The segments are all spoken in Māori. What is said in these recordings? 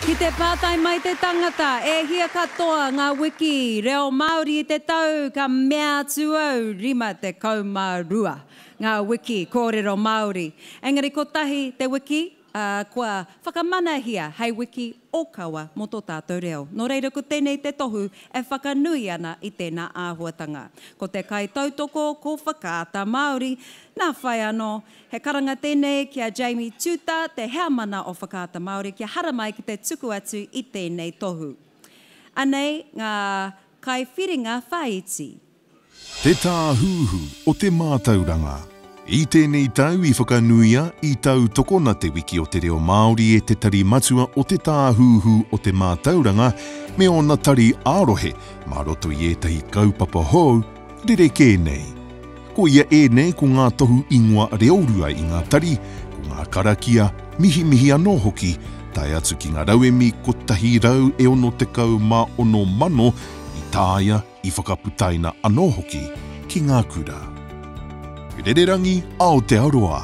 Ki te pātai mai te tangata, e hia katoa ngā wiki reo Māori i te tau, ka mea atu au, 52 ngā wiki kōrero Māori. Engari kotahi te wiki, ā, kua whakamanahia hei wiki ōkawa mō tō tātou reo. Nō reira ko tēnei te tohu e whakanui ana i tēnā āhuatanga. Ko te kaitautoko ko Whakaata Māori. Nā whai anō, he karanga tēnei ki a Jamie Tuta, te heamana o Whakaata Māori kia haramai ki te tuku atu i tēnei tohu. Anei ngā kaiwhiringa whāiti. Te Tāhuhu o te Mātauranga I tēnei tau i whakanuia, i tautokona Te Wiki o te Reo Māori e te Tari Matua o Te Tāhuhu o te Mātauranga me ōna tari ā-rohe mā roto i ētahi kaupapa hou rerekē nei. Koia ēnei ko ngā tohu ingoa reorua i ngā tari, ko ngā karakia, mihimihi anō hoki, tae atu ki ngā rauemi 166 mano i taea, I whakaputaina anō hoki ki ngā kura. Rererangi Aotearoa.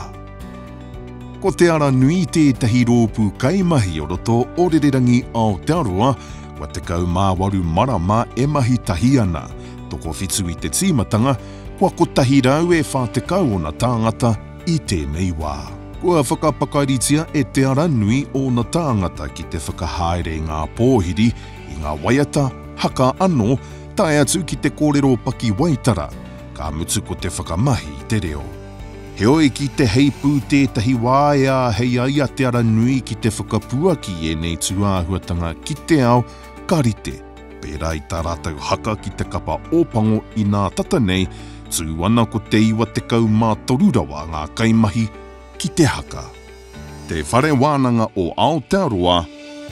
Ko Te Ara Nui tētahi rōpū kaimahi o roto o Rererangi Aotearoa, kua 18 marama e mahi tahi ana, tokowhitu i te tīmatanga, kua 140 ōna tāngata i tēnei wā. Kua whakapakaritia e Te Ara Nui ōna tāngata ki te whakahaere i ngā pōhiri, i ngā waiata, haka anō, tae atu ki te kōrero pakiwaitara, ka mutu ko te whakamahi i te reo. Heoi, ki te heipū tētahi wā e āhei ai a Te Ara Nui ki te whakapuaki i ēnei tūāhuatanga ki te ao, ka rite, pērā i tā rātou haka ki te kapa Ōpango inā tata nei, tū ana ko te 93 rawa ngā kaimahi ki te haka. Te Whare Wānanga o Aotearoa,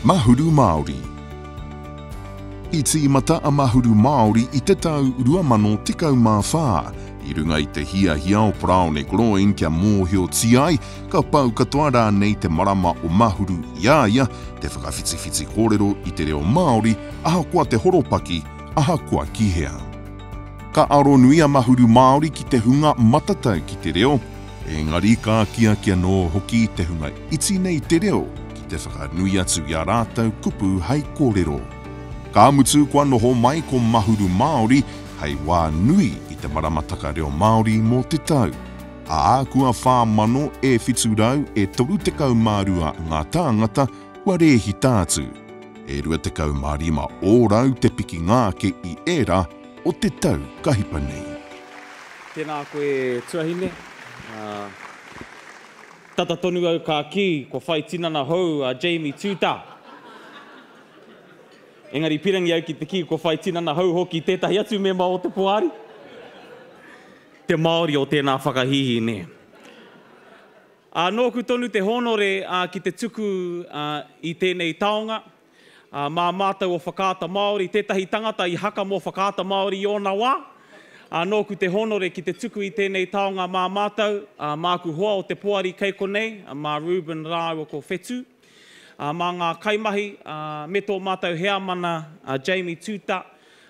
Mahuru Māori. I tīmata a Mahuru Māori i te tau 2014, i runga i te hiahia o Paraone Groen kia mōhiotia ai, ka pau katoa rānei te marama o Mahuru i a ia, te whakawhitiwhiti kōrero i te reo Māori, ahakoa te horopaki, ahakoa ki hea. Ka aro nui a Mahuru Māori ki te hunga matatau ki te reo, Engari ka akiaki anō hoki te hunga iti nei te reo ki te whakanui atu i ā rātou kupu hai kōrero. Ka mutu kua noho mai ko Mahuru Māori hai wā nui i te maramataka reo Māori mō te tau, ā, kua 4,700 e 32 ngā tāngata kua rēhita atu, e 25 ōrau te pikinga ake i ērā o te tau ka hipa nei. Tēnā koe tuahine. Tata tonu au ka kī kua whai tinana hou a Jamie Tuta. Engari pirangi au ki te kī kua whai tinana hou hoki tētahi atu mema o te poari. Te Māori o tēnā whakahīhī, nē. Ā, nōku tonu te hōnore ki te tuku i tēnei taonga. Ā, mā mātou o Whakaata Māori, tētahi tangata i haka mō Whakaata Māori i ōna wā, ā, nōku te hōnore ki te tuku i tēnei taonga mā mātou, ā, māku hoa o te poari kei konei, mā Reuben rāua ko Whetu, ā, mā ngā kaimahi, ā, me tō mātou heamana, a Jamie Tuta,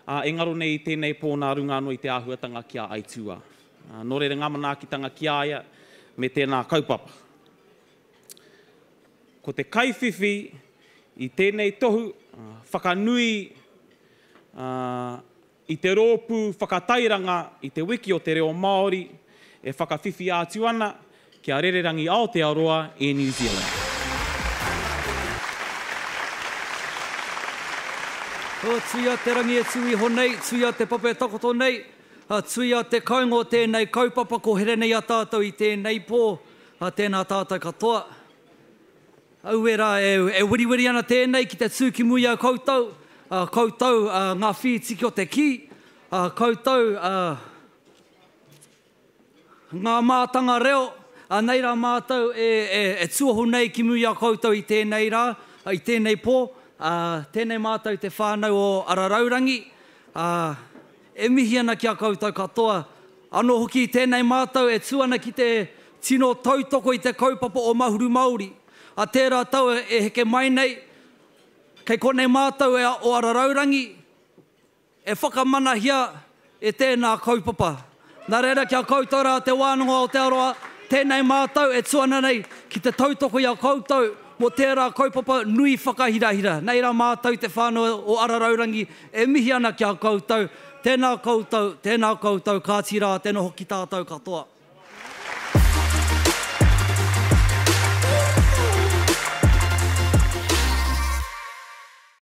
ā, engaro nei i tēnei pō nā runga anō i te āhuatanga ki a Aituā. Ā, nō reira ngā manaakitanga ki a ia me tēnā kaupapa. Ko te kaiwhiwhi i tēnei tohu whakanui i te rōpū whakatairanga i Te Wiki o te Reo Māori e whakawhiwhi ātu ana ki a Rererangi Aotearoa e New Zealand. Tui a Te Rangi e tū iho nei, tui a Te Papa e takoto nei, tui a Te Kainga o tēnei kaupapa, ko here nei a tātou i tēnei pō, Ā, tēnā tātou katoa. Aue rā, e weriweri ana tēnei ki te tū ki muri i a koutou, ā, koutou, ā, ngā whītiki o te kī, ā, koutou, ā, ngā mātanga reo, ā, nei rā mātou e, e, e tuohu nei ki muri i a koutou i tēnei rā, ā, i tēnei pō, ā, tēnei mātou te whānau o Araraurangi, ā, E mihi ana ki a koutou katoa, anō hoki i tēnei mātau e tū ana ki te tino tautoko i te kaupapa o Mahuru Māori. A tērā tau e heke mai nei, kei konei mātau e o ara raurangi e whakamanahia e tēnā kaupapa. Nā reira ki a koutou rā te wānanga o Aotearoa, tēnei mātau e tū ana nei ki te tautoko i a koutou mō tērā kaupapa nui whakahirahira. Nei rā mātau te whānau o ara raurangi E mihi ana ki a koutou, tēnā koutou, tēnā koutou, kāti rā, tēnā hoki tātou katoa.